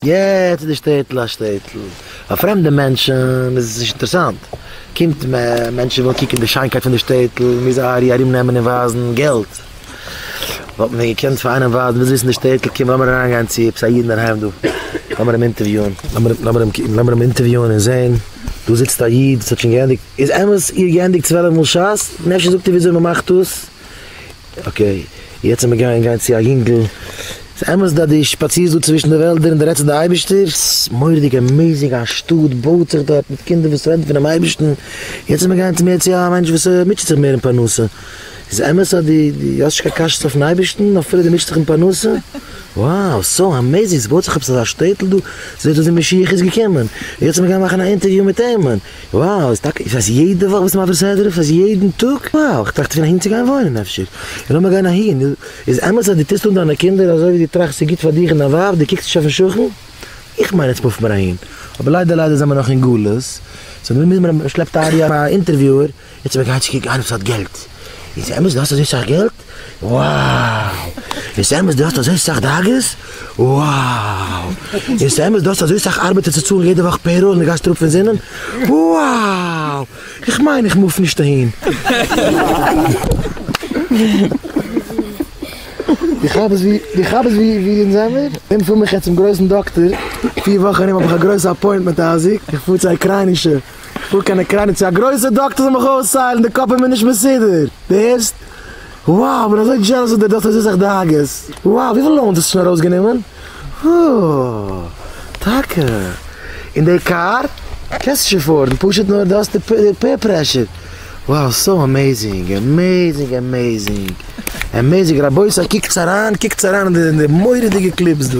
יעצט איז די שטעטל א שטעטל פאר פרעמדע מענטשן איז עס נישט אינטערעסאנט קומט מער מענטשן ווילן קוקן די שיינקייט פון די שטעטל מיר זיי ארי ארום נעמען און ווייזן געלט וואלט מען געקענט פאר איינעם ווייזן ווילסט וויסן די שטעטל קום לאמיר אריין גיין צו עפעס א איד אינדערהיים דא לאמיר אים אינטערוויאן לאמיר אים אינטערוויאן און זען דא זיצט א איד וואס האט שוין געענדיגט איז אמת איר געענדיגט צוועלף מאל שס און אפשר זאגט איר וויאזוי מען מאכט דאס. אקעי, יעצט זעמיר גייען גיין צו א יונגל, ס'איז אמת אז דו שפאצירסט דא צווישן די וועלדער און דו רעדסט צו די אייבישטער, ס'איז מורא'דיג עמעיזינג, א שטאט בויט זיך דארט מיט קינדער וואס רעדן פונעם אייבישטן, יעצט זעמיר גייען מער צו א מענטש וואס מוטשעט זיך מער אין פרנסה, איז אמת אז דו האסט נישט קיין קשיות אויפן אייבישטן אפילו דו מוטשעסט דיך אין פרנסה, וואו, סאו עמעיזינג, ס'בויט זיך עפעס אזא שטעטל דא, ס'זעט אויס ווי משיח איז געקומען, יעצט זעמיר גיין מאכן א אינטערוויו מיט איהם, וואו איז טאקע איז עס יעדע וואך ביסט מעביר סדרה פאר זיי יעדן טאג? וואו איך טראכט פון אהין צו גיין וואוינען אפשר און לאמיר גיין אהין איז אמת אז דו טוסט אן דיינע קינדער אזוי ווי דו טראכסט ס'איז גוט פאר דיך און דיין ווייב דו קוקסט נישט אויפן שכן איך מיין עטס מופט מען אהין אבער ליידער ליידער זעמער נאך אין גלות סאו דערמיט מוז מען מען שלעפט אהער יא א אינטערוויוער. יעצט מען גייט קוקן איינער וואס האט געלט, איז אמת דו האסט אזוי סאך געלט? wow! איז אמת דו האסט אזוי סאך דאגות? wow! איז אמת דו האסט אזוי סאך ארבעטער צו צאלן יעדע וואך פעיראל און דו גייסט אראפ פון זינען? wow! איך מיין איך מוף נישט אהין. איך האב עס איך האב עס ווי ווי אין זעמער און פאר מיך יעצט צום גרויסן דאקטער פיר וואך ארום האב איך א גרויסע אפוינטמענט אייזיק איך פאר צו א אוקריינישע. פאר קיין אוקריינע צו א גרויסע דאקטער זאל מיך אויסהיילן, די קאפ איז מיר נישט מסודר, די הערסט? wow כ'בין אזוי דזשעלעס וואס דער דאקטער טוט זיך דאגות, wow וויפיל לאונס האסטו שוין ארויסגענומען? אה טאקע? און די קאר? קענסט שוין פארן, פשוט נאר די האסט די פעיר פרעשור, wow סאו עמעיזינג עמעיזינג עמעיזינג עמעיזינג רבותי קוקטס אריין קוקטס אריין אין די מורא'דיגע קליפס דא.